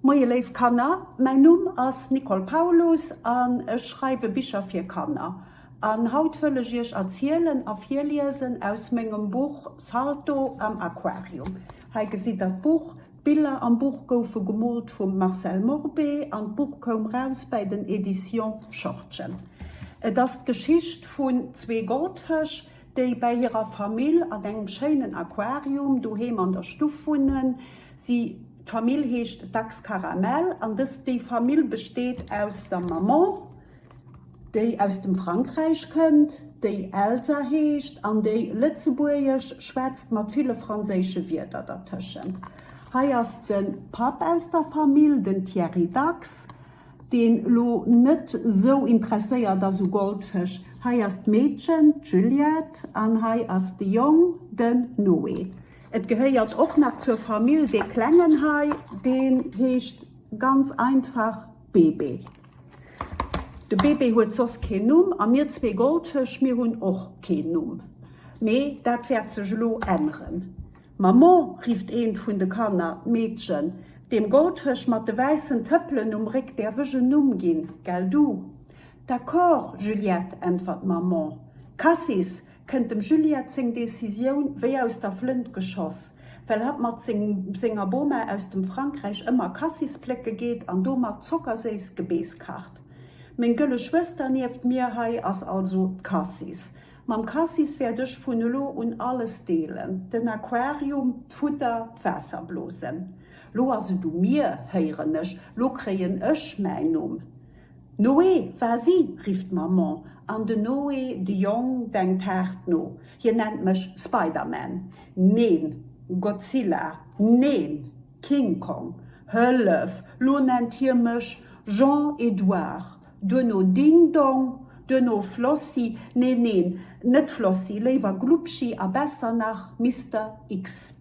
Moie léif Kanner, mäin Numm ass Nicole Paulus an ech schreiwe Bicher fir Kanner. An haut wëll ech iech erzielen a virliesen aus mengem Buch Salto am Aquarium. Hei gesitt der d'Buch. D'Biller am Buch goufe gemoolt vum Marcel Morbé an d'Buch koum raus bäi den Editions Schortgen. Et ass d'Geschicht vun zwee Goldfësch, déi bäi hirer Famill an engem schéinen Aquarium doheem an der Stuff wunnen, si d'Famill heescht Dachs Caramel an dës déi Famill besteet aus der Maman, déi aus dem Frankräich kënnt, déi Elsa heescht an déi Lëtzebuergesch schwätzt mat ville franséische Wierder dertëschent. Hei ass de Papp aus der Famill, den Thierry Dachs. deen lo net sou interesséiert ass u Goldfësch, hei ass d'Meedchen, d'Juliette, an hei ass de Jong, den Noé. Et gehéiert och nach zur Famill dee Klengen hei, deen heescht ganz einfach Bébé. De Bébé huet soss keen Numm, a mir zwee Goldfësch, mir hunn och keen Numm, mee dat wäert sech elo änneren. Maman! rifft eent vun de Kanner. D'Meedchen, Deem Goldfësch mat de wäissen Tëppelen um Réck däerf ech en Numm ginn, gell du? D'accord, Juliette! äntwert d'Maman. Cassis! kënnt dem Juliette seng Decisioun wéi aus der Flënt geschoss, well hatt mat senger Boma aus dem Frankräich ëmmer Cassis plécke geet an domat zockerséiss Gebeess kacht. Meng gëlle Schwëster nieft mir hei ass also d'Cassis. Mam Cassis wäert ech vun elo un alles deelen, den Aquarium, d'Futter, d'Waasserblosen. Lo ass et u mir, héieren ech, lo kréien ech mäin Numm. Noé, Vas-y! rifft d'Maman, an den Noé de Jong denkt haart no, Hien nennt mech Spider-Man, neen, Godzilla, neen, King Kong, hëllef, lo nennt hie mech Jean-Edouard, Duerno Ding Dong, duerno Flossi, neen, neen, net Flossi, léiwer Glubschi a besser nach Mister X.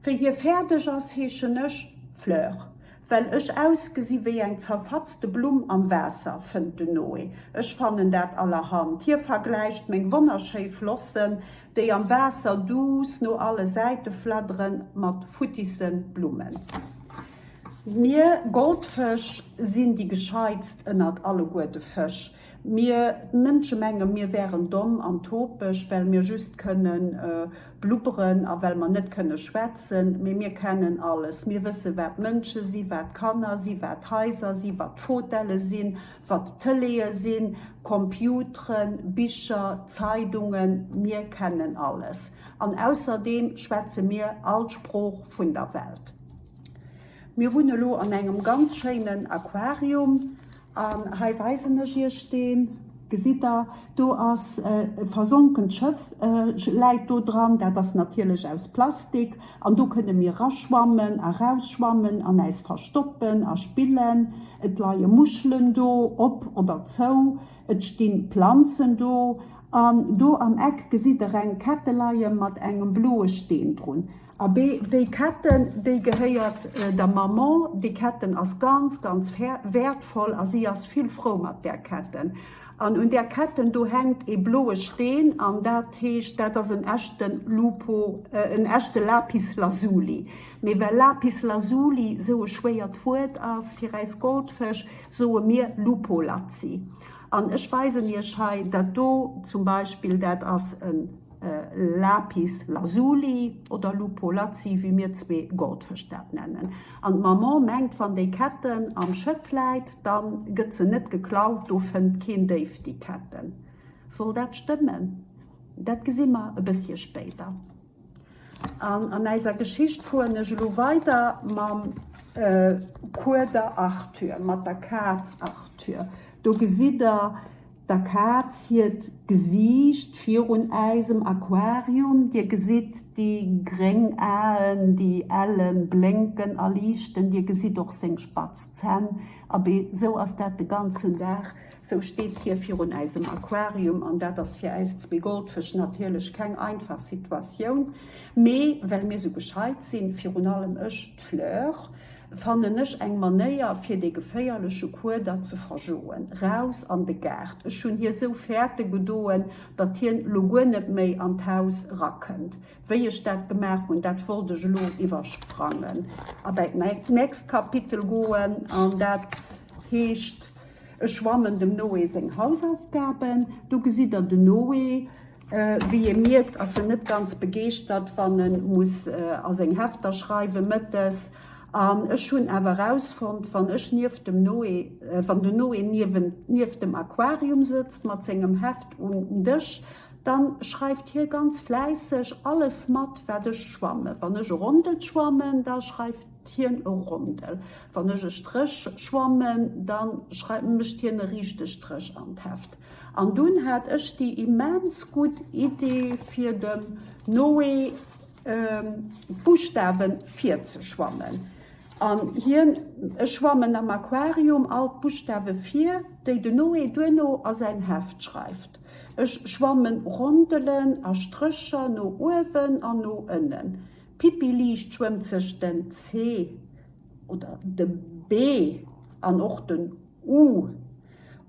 Wéi hie fäerdeg ass, heeschen ech Fleur, well ech ausgesi wéi eng zerfatzte Blumm am Waasser, fënnt de Noé. Ech fannen dat allerhand. Hie vergläicht meng wonnerschéi Flossen, déi am Waasser duuss no alle Säite fladderen, mat futtissen Blummen. Mir Goldfësch sinn déi gescheitst ënnert alleguer de Fësch. Mir Mënsche menge mir wären domm an topeg, well mir just kënne blubberen a well mer net kënne schwätzen. Mee mir kennen alles, mir wësse wat Mënsche si, wat Kanner si, wat Haiser si, wat Fotelle sinn, wat Tëleeë sinn, Computeren, Bicher, Zeidungen, mir kennen alles. An ausserdeem schwätze mir all Sprooch vun der Welt. Mir hunn elo an engem ganz schéinen Aquarium an hei weisen ech Iech deen. Gesitt der, do ass e versonkent Schëff läit do dran, dat ass natierlech aus Plastik an do kënne mir raschwammen a rausschwammen an äis verstoppen a spillen. Et leie Muschelen do, op oder zou, et sti Planzen do an do am Eck gesitt der eng Kette leie mat engem bloe Steen drun. Abee, déi Ketten, déi gehéiert der Maman. Déi Ketten ass ganz, ganz wäertvoll a si ass vill frou mat där Ketten. An un där Ketten do hänkt ee bloe Steen an dat heescht, dat ass en echten Lupo, en echte Lapis Lazuli. Mee well Lapis Lazuli sou e schwéiert Wuert ass fir äis Goldfësch, soe mir Lupolazzi. An ech weisen Iech hei dat do zum Beispill, dat ass en. Lapis Lazuli oder Lupo Lazzi, wéi mir zwee Goldfësch dat nennen. An d'Maman mengt, wann déi Ketten am Schëff läit, da gëtt se net geklaut, do fënnt keen Déif déi Ketten. Soll dat stëmmen? Dat gesi mer e bësschen spéider. An an eiser Geschicht fueren ech elo weider mam Kueder Arthur, mat der Kaz Arthur. Do gesitt der, Der Kaz hiert Gesiicht virun äisem Aquarium. Dir gesitt déi gréng Aen, déi ellen, blénken a liichten. Dir gesitt och seng spatz Zänn. Abee, sou ass dat de ganzen Dag. Sou steet hie virun äisem Aquarium. An dat ass fir äis zwee Goldfësch natierlech keng einfach Situatioun. Mee well mir sou gescheit sinn, virun allem ech, D'Fleur fannen ech eng Manéier fir dee geféierleche Kueder ze verjoen. Raus an de Gaart. Ech hunn hie sou fäerte gedoen, datt hien lo guer net méi an d'Haus rakënnt. Wéi ech dat gemaach hunn, dat wollt ech elo iwwersprangen a bäi d'nächst Kapitel goen. An dat heescht, ech schwammen dem Noé seng Hausaufgaben. Do gesitt der den Noé. Wéi ee mierkt, ass en net ganz begeeschtert, wann e muss a seng Hefter schreiwe mëttes. An ech hunn awer erausfonnt, wann ech nieft dem Noé, wann de Noé niewent, nieft dem Aquarium sëtzt mat sengem Heft um Dësch, da schreift hie ganz fläisseg alles mat, wat ech schwammen. Wann ech e Rondel schwammen, da schreift. D'Hien e Rondel. Wann ech e Stréch schwammen, da schreiw, mécht hien e riichte Stréch an d'Heft. An dunn hat ech déi immens gutt Idee, fir dem Noé d'Buschtawe virzeschwammen. An hien, ech schwammen am Aquarium all d'Buschtawe vir, déi de Noé duerno a säin Heft schreift. Ech schwammen Rondelen a Strécher no uewen an no ënnen. D'Pippi liicht schwëmmt sech den C oder de B an och den U.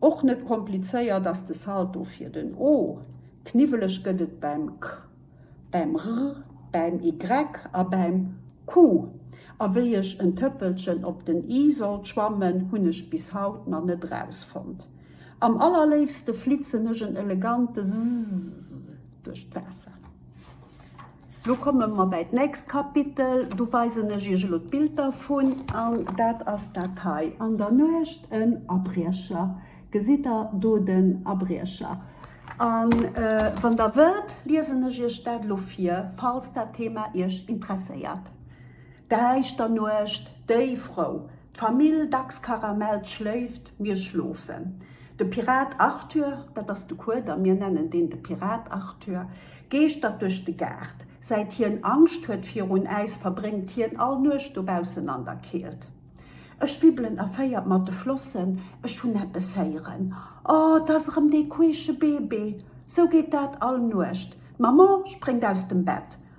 Och net komplizéiert ass de Salto fir den O. Kniwweleg gëtt et beim K, beim R, beim Y a beim Q. A wéi ech en Tëppelchen op den I sollt schwammen, hunn ech bis haut nach net rausfonnt. Am allerléifste flitzen ech en elegante S duerch d'Waasser. Do komme mer bäi d'nächst Kapitel. Do weisen ech iech elo d'Bild dervun. An dat ass dat hei an der Nuecht, en Abriecher. Gesitt der do den Abriecher? A wann der wëllt, liesen ech iech dat elo vir, falls dat Thema iech interesséiert. Däischter Nuecht, déi Frou. D'Famill Dachskaramell schléift, mir schlofen. De Pirat Arthur, dat ass de Kueder, mir nennen deen de Pirat Arthur, geeschtert duerch de Gaart. Säit hien Angscht huet virun äis, verbréngt hien all Nuecht dobaussen an der Keelt. Ech wibbelen erféiert mat de Flossen, ech hunn eppes héieren. O, 't ass erëm dee queesche Bébé! Sou geet dat all Nuecht. D'Maman spréngt aus dem Bett.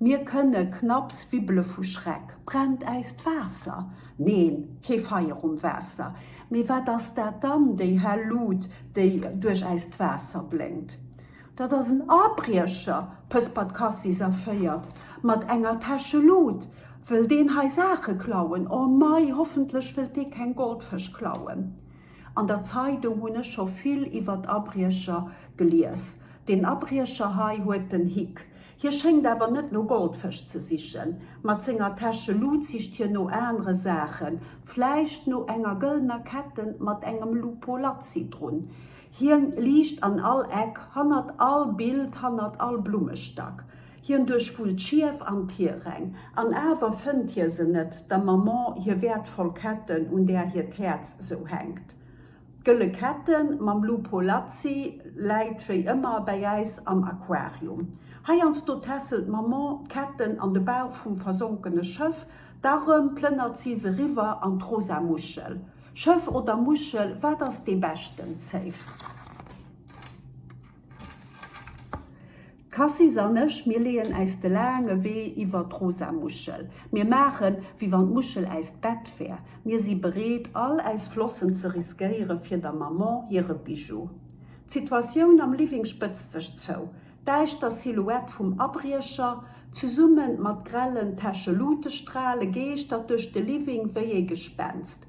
Mir kënne knapps wibbele vu Schreck. Brennt äis d'Waasser? Neen, kee Feier um Waasser. Mee wat ass dat dann, déi hell Lut, déi duerch äist Waasser blénkt? Dat ass en Abriecher, pëspert Cassis erféiert. Mat enger Täsche Lut wëll deen hei Saache klauen. O mei, hoffentlech wëllt dee keng Goldfësch klauen. An der Zeidung hunn ech scho vill iwwert Abriecher gelies. Deen Abriecher hei huet den Hick. Hie schéngt awer net no Goldfësch ze sichen. Mat senger Täsche Lut sicht hien no anere Saachen, vläicht no enger gëllener Ketten mat engem Lupo Lazzi drun. Hien liicht an all Eck, hannert all Bild, hannert all Blummestack. Hien duerchwullt d'Schief an d'Hieräng. An awer fënnt hie se net, der Maman hir wäertvoll Ketten, un där hiert Häerz esou hänkt. D'Gëlle Kette mam Blue Polazzi läit wéi ëmmer bäi äis am Aquarium. Heiansdo tässelt d'Maman d'Ketten an de Bauch vum versonkene Schëff, da rëm plënnert si se riwwer an d'rosa Muschel. Schëff oder Muschel, wat ass dee beschten Save? D'Cassis an ech, mir leeën äis de laange Wee iwwer d'rosa Muschel. Mir maachen, wéi wann d'Muschel äist Bett wär. Mir si bereet, all äis Flossen ze riskéiere fir der Maman hire Bijou. D'Situatioun am Living spëtzt sech zou. D'däischter Silhouette vum Abriecher, zesumme mat grellen Täschelutestrale, geeschtert duerch de Living wéi ee Gespenst.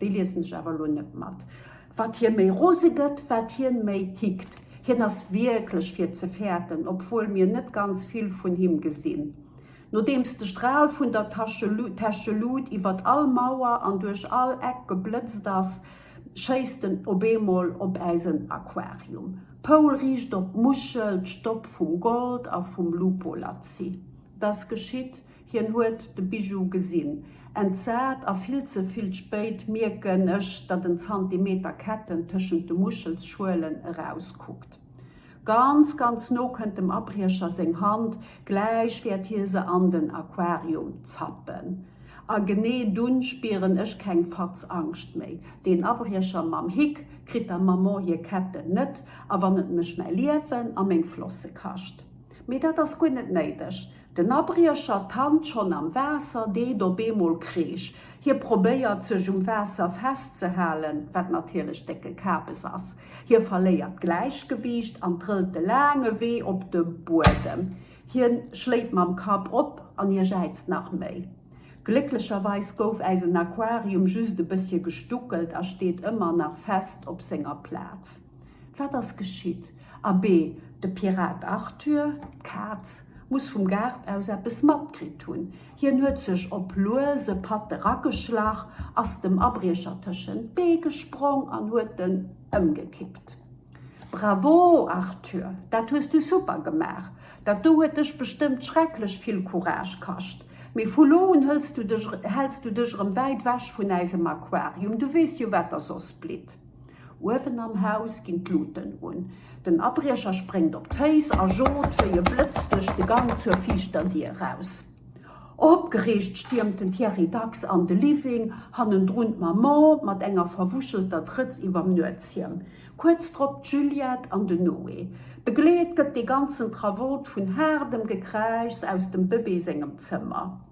Déi liesen ech awer elo net mat. Wat hie méi rose gëtt, wat hien méi hickt. Hien ass wierklech fir ze fäerten, obwuel mir net ganz vill vun him gesinn. Nodeems de Stral vun der Täschelut iwwert all Mauer an duerch all Eck geblëtzt ass, schéisst en op eemol op äisen Aquarium. Poul riicht op d'Muschel, d'Stopp vum Gold a vum Lupolazzi. Dass geschitt, Hien huet de Bijou gesinn. Entsat a vill ze vill spéit mierken ech, datt en Zantimeter Ketten tëschent de Muschelschuelen erauskuckt. Ganz, ganz no kënnt dem Abriecher seng Hand, gläich wäert hie se an den Aquarium zappen. A genee dunn spieren ech keng Fatz Angscht méi. Deen Abriecher mam Hick kritt der Maman hir Ketten net a wann et mech mäi Liewen a meng Flosse kascht. Mee dat ass guer net néideg. Den Abriecher tannt schonn am Waasser, deet op eemol Kreesch. Hie probéiert, sech um Waasser festzehalen, wat natierlech décke Kapes ass. Hie verléiert d'Gläichgewiicht an trëllt de laange Wee op de Buedem. Hie schléit mam Kapp op an hie jäizt nach méi. Glécklecherweis gouf äisen Aquarium just e bëssche gestuckelt a steet ëmmer nach fest op senger Plaz. Wat ass geschitt? Abee, de Pirat Arthur, d'Kaz, muss vum Gaart aus eppes matkritt hunn. Hien huet sech op luese Patt erageschlach, ass dem Abriecher tëschent d'Bee gesprong an huet en ëmgekippt. Bravo, Arthur! Dat hues du super gemaach! Dat do huet dech bestëmmt schrecklech vill Courage kascht. Mee vu lo un hëls du dech, häls du dech erëm wäit wech vun äisem Aquarium. Du weess jo, wat der soss blitt. Uewen am Haus ginn d'Luten un. Den Abriecher spréngt op d'Féiss a jot wéi e Blëtz duerch de Gang zur viischter Dier eraus. Opgereegt stiermt den Thierry Dachs an de Living. Hannendrun d'Maman mat enger verwuschelter Trëtz iwwerm Nuetshiem. Kuerz drop d'Juliette an den Noé. Begleet gëtt dee ganzen Travollt vun haardem Gekräischs aus dem Bëbee sengem Zëmmer.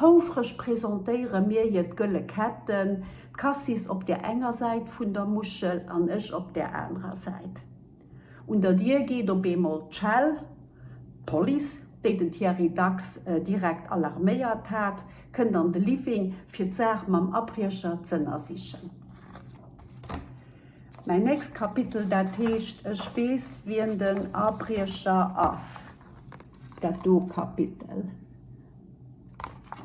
Houfreg presentéiere mir hier d'Gëlle Ketten, d'Cassis op der enger Säit vun der Muschel an ech op der anerer Säit. Un der Dier geet op eemol d'Schell. D'Police, déi den Thierry dacks direkt alarméiert hat, kënnt an de Living, fir d'Saach mam Abriecher z'ënnersichen. Mäin nächst Kapitel, dat heescht, ech weess, wien den Abriecher ass. Dat do Kapitel,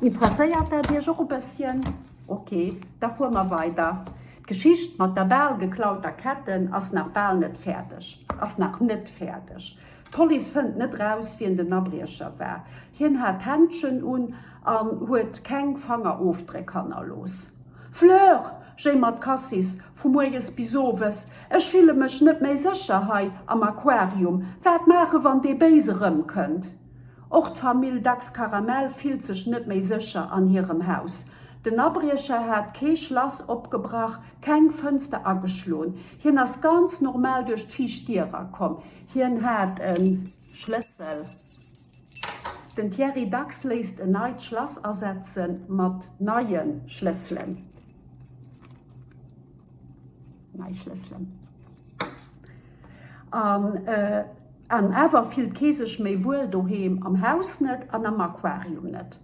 interesséiert dat Iech och e bësschen? Ok, da fuere mer weider. D'Geschicht mat der bal geklauter Ketten ass nach bal net fäerdeg, ass nach net fäerdeg. D'Police fënnt net raus, wien den Abriecher war. Hien hat Händschen un an huet keng Fangerofdréck hannerlooss. Fleur, Jay mat Cassis, vu mueres bis owes, ech fille mech net méi sécher hei am Aquarium, wat maache wann dee Béise erëmkënnt? Och d'Famill Dachs Karamell fillt sech net méi sécher an hirem Haus. Den Abriecher hat kee Schlass opgebrach, keng Fënster ageschloen. Hien ass ganz normal duerch d'viischt Dier erakomm. Hien hat e Schlëssel. Den Thierry Dax léisst en neit Schlass asetze mat neie Schlësselen. An awer fillt kee sech méi wuel doheem, am Haus net an am Aquarium net.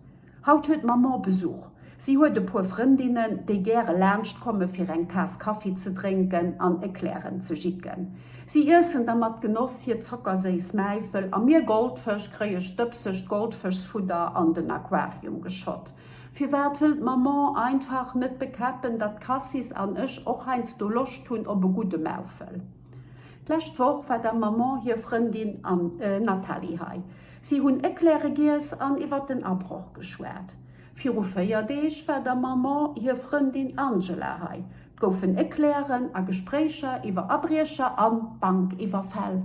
Haut huet d'Maman Besuch. Si huet e puer Frëndinnen, déi gäre laanscht komme fir eng Taass Kaffi ze drénken an Eclairen ze jicken. Si iessen da mat Genoss hir zockerséiss Mäifel a mir Goldfësch kréie stëbsegt Goldfëschsfudder an den Aquarium geschott. Firwat wëll d'Maman einfach net bekäppen, datt d'Cassis an ech och heiansdo Loscht hunn op e gudde Mäufel? D'lescht Woch war der Maman hir Frëndin Nathalie hei. Si hunn Eclaire giess an iwwer den Abroch geschwat. Viru véier Deeg war der Maman hir Frëndin Angela hei. 't goufen Eclairen a Gespréicher iwwer Abriecher a Bankiwwerfäll.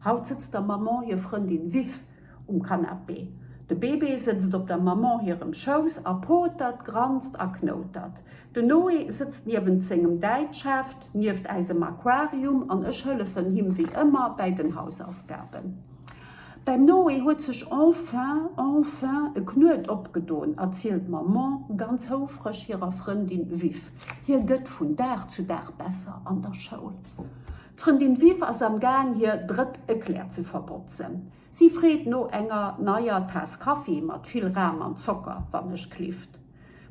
Haut sëtzt der Maman hir Frëndin Viv um Canapé. De Bébé sëtzt op der Maman hirem Schouss a potert, granzt a knoutert. Den Noé sëtzt niewent sengem Däitschheft, nieft äisem Aquarium an ech hëllefen him wéi ëmmer bäi den Hausaufgaben. Beim Noé huet sech enfin, enfin e Knuet opgedon, erzielt d'Maman ganz houfreg hirer Frëndin Viv. Hie gëtt vun Dag zu Dag besser an der Schoul. D'Frëndin Viv ass am Gaang hir drëtt Eclair ze verbotzen. Si freet no enger neier Taass Kaffi mat vill Ram an Zocker, wannechklift.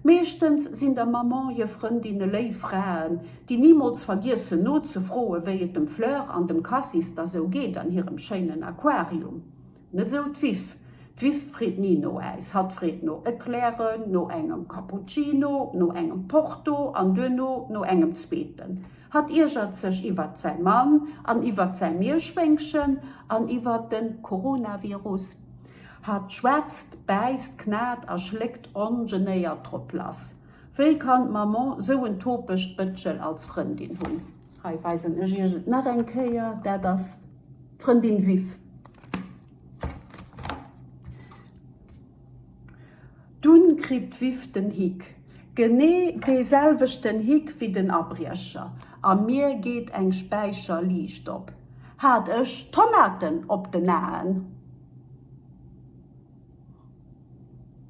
Meeschtens sinn der Maman hir Frëndinne léif Fraen, déi nimools vergiessen nozefroen, wéi et dem Fleur an dem Cassis da sou geet an hirem schéinen Aquarium. Net esou d'Viv. D'Viv freet ni no Äis, hatt freet no Eclairen, no engem Cappuccino, no engem Porto an duerno no engem zweeten. Hatt iergert sech iwwert säi Mann an iwwert säi Mierschwéngchen an iwwert de Coronavirus. Hatt schwätzt, bäisst, knat a schléckt ongenéiert drop lass. Wéi kann d'Maman sou en topegt Bëtschel als Frëndin hunn? Hei weisen ech iech et nach eng Kéier, dat ass d'Frëndin Viv. Dunn kritt d'Viv den Hick. Genee dee selwechten Hick wéi den Abriecher, a mir geet eng Späicherliicht op. Hat ech Tomaten op den Aen?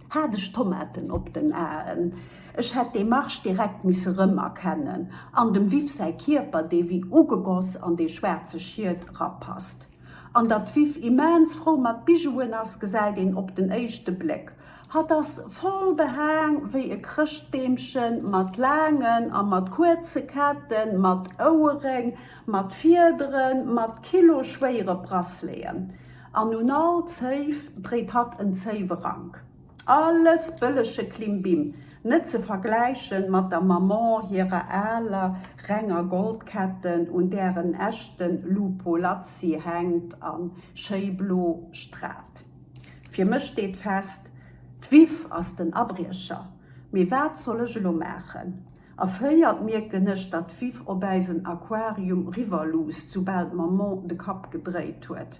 Hat ech Tomaten op den Aen? Ech hätt dee Marsch direkt misse rëmerkennen, an dem Viv säi Kierper, dee wéi ugegoss an dee schwaarze Schiet rapasst. An datt d'Viv immens frou mat Bijouen ass, gesäit een op den éischte Bléck. Hatt ass voll behaang wéi e Chrëschtbeemchen, mat laangen a mat kuerze Ketten, mat Oueréng, mat Fiederen, mat kiloschwéiere Braceleten. An un all Zéif dréit hatt en Zéiwerank. Alles bëllege Klimbim, net ze vergläichen mat der Maman hirer aler, renger Goldketten, un där en echten Lupo Lazzi hänkt a schéi blo stralt. Fir mech steet fest, D'Viv ass den Abriecher. Mee wat soll ech elo maachen? Erféiert mierken ech, datt d'Viv op äisen Aquarium riwwerluusst, soubal d'Maman de Kapp gedréit huet.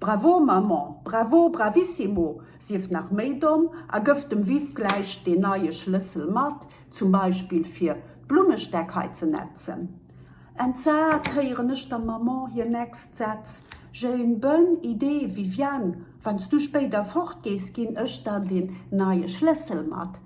Bravo Maman, bravo, bravissimo, sief nach méi domm a gëff dem Viv gläich deen neie Schlëssel mat, zum Beispill fir d'Blummestäck hei ze nätzen. Entsat héieren ech der Maman hir next Sätz, J'ai une bonne idée Viviane, wann s du spéider fort gees, ginn ech der deen neie Schlëssel mat.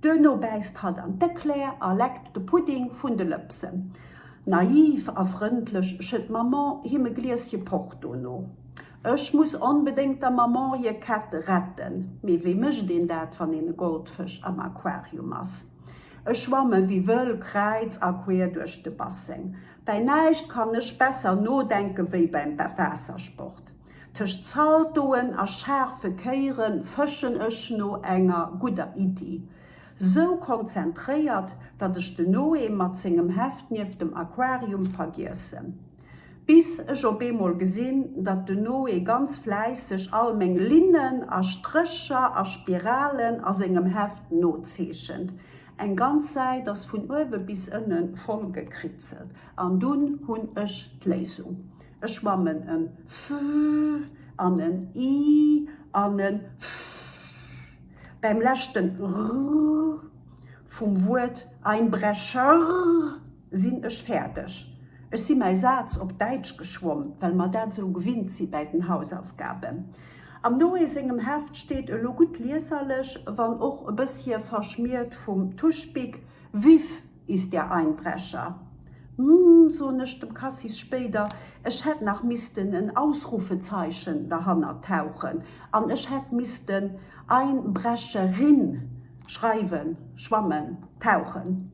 Duerno bäisst hatt an d'Eclaire a leckt de Pudding vun de Lëpsen. Naiv a frëndlech schëtt d'Maman him e Glieschen Porto no. Ech muss onbedéngt der Maman hir Kett retten. Mee wéi mécht een dat, wann een e Goldfësch am Aquarium ass? Ech schwamme wéi wëll kräiz a quer duerch de Basseng. Bäi näischt kann ech besser nodenken, wéi beim Waassersport. Tëscht Zaldoen a schaarfe Kéieren fëschen ech no enger gudder Iddi. Sou konzentréiert, datt ech den Noé mat sengem Heft nieft dem Aquarium vergiessen. Bis ech op eemol gesinn, datt den Noé ganz fläisseg all meng Linnen a Strécher a Spiralen a sengem Heft nozeechent. Eng ganz Säit ass vun uewe bis ënne vollgekritzelt. An dunn hunn ech d'Léisung. E schwammen en fr an en i an en fr bäim leschten rr vum Wuert Einbrecher sinn ech fäerdeg. Ech si mäi Saz op Däitsch geschwomm, well mer dat esou gewinnt si bäi den Hausaufgaben. Am Noé sengem Heft steet, elo gutt lieserlech, wann och e bëssche verschmiert vum Tuschbic, Vive Is der Einbrecher? Hm, soen ech dem Cassis spéider, ech hätt nach missten en Ausrufezeichen derhannert tauchen an ech hätt missten Einbrecherin schreiwen, schwammen, tauchen.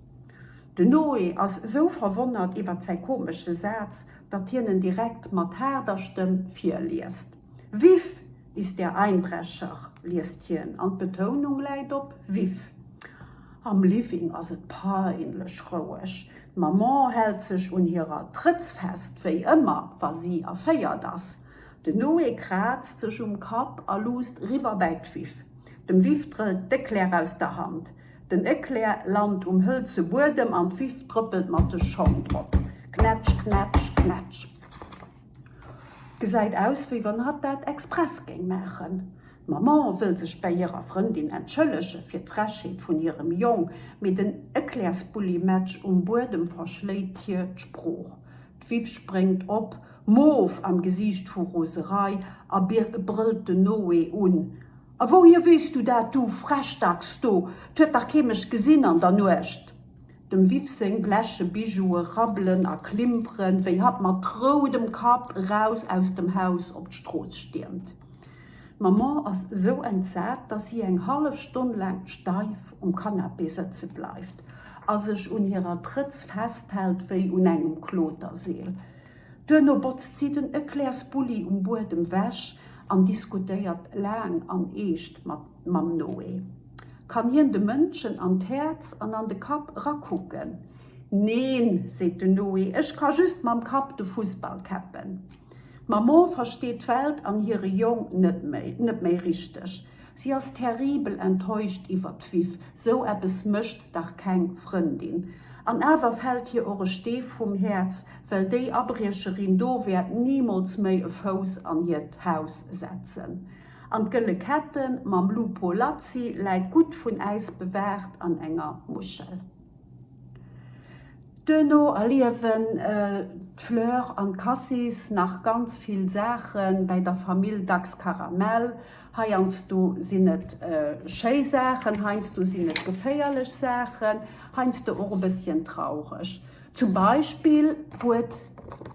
De Noé ass esou verwonnert iwwert säi komesche Saz, datt hien en direkt mat haarder Stëmm virliest. Vif ist der Einbrecher! liest hien, an d'Betounung läit op vif. Am Living ass et peinlech roueg. D'Maman hält sech un hirer Trëtz fest, wéi ëmmer, wa si erféiert ass. Den Noé kraazt sech um Kapp a luusst riwwer bäi d'Vif. Dem Vif drëllt d'Eclair aus der Hand. Den Eclair lant um hëlze Buedem an d'Vif trëppelt mat de Schong drop. Knätsch, knätsch, knätsch. Gesäit aus wéi wann hatt dat express géing maachen. D'Maman wëll sech bäi hirer Frëndin entschëllege fir d'Frechheet vun hirem Jong, mee den Eclairsbulli-Match um Buedem verschléit hir d'Sprooch. D'Viv spréngt op, moof am Gesiicht vu Roserei, a brëllt den Noé un, A wouhier weess du dat, du Frechdachs do? 't huet dach kee mech gesinn an der Nuecht! Dem Viv seng bleche Bijoue rabbelen a klimperen, wéi hatt mat roudem Kapp eraus aus dem Haus op d'Strooss stiermt. D'Maman ass esou entsat, dass si eng hallef Stonn laang steif um Canapé sëtze bleift a sech un hirer Trëtz festhält wéi un engem Kloterseel. Duerno botzt si den Eclairs-Bulli um Buedem wech an diskutéiert laang an eescht mat Mamm Noé. Kann hien de Mënschen an d'Häerz an an de Kapp erakucken? Neen, seet den Noé, ech ka just mam Kapp de Fussball käppen. D'Maman versteet d'Welt an hire Jong net méi, net méi richteg. Si ass terribel enttäuscht iwwert d'Viv, sou eppes mécht dach keng Frëndin. An awer fält hir och e Stee vum Häerz, well déi Abriecherin do wäert nimools méi e Fouss an hiert Haus setzen. An d'gëlle Kette mam Lupo Lazzi läit gutt vun Äis bewaacht an enger Muschel. Duerno erliewen d'Fleur an d'Cassis nach ganz vill Saache bäi der Famill Dachs-Karamell. Heiansdo sinn et schéi Saachen, heiansdo sinn et geféierlech Saachen, heiansdo och e bësschen traureg. Zum Beispill huet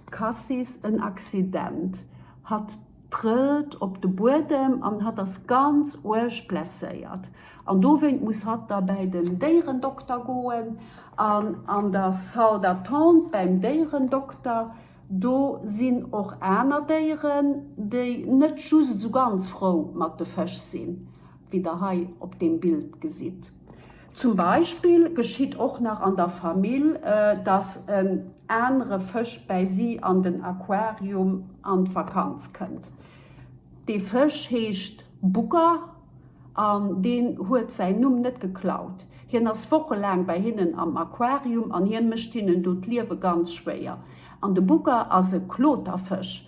d'Cassis en Accident. Hatt trëllt op de Buedem an hatt ass ganz uerg blesséiert an dowéint muss hatt da bäi den Déierendokter goen an an der Salle d'attente bäim Déierendokter, do sinn och aner Déieren, déi net just esou ganz frou mat de Fësch sinn, wéi der hei op deem Bild gesitt. Zum Beispill geschitt och nach an der Famill, dass en anere Fësch bäi si an den Aquarium an d'Vakanz kënnt. Dee Fësch heescht Bugger an deen huet säin Numm net geklaut. Hien ass wochelaang bäi hinnen am Aquarium an hie mécht hinnen do d'Liewe ganz schwéier. An de Bugger ass e Kloterfësch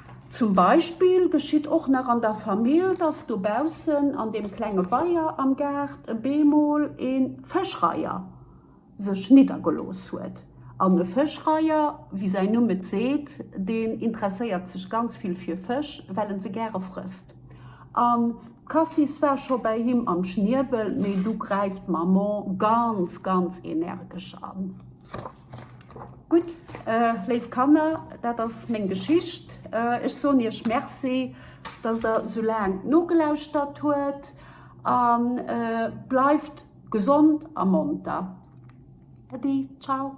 Zum Beispill geschitt och nach an der Famill, dass dobaussen an deem klenge Weier am Gaart e beemol e Fëschreiher sech niddergelooss huet. An e Fëschreiher, wéi säin Numm et seet, deen interesséiert sech ganz vill fir Fësch, well en se gäre frësst. An d'Cassis war scho bäi him am Schniewel, mee du gräift d'Maman ganz, ganz energesch an. Gutt, léif Kanner, dat ass meng Geschicht. Ech soen iech Merci, dass der esou laang nogelauschtert huet. A bleift gesond a monter. Äddi, ciao.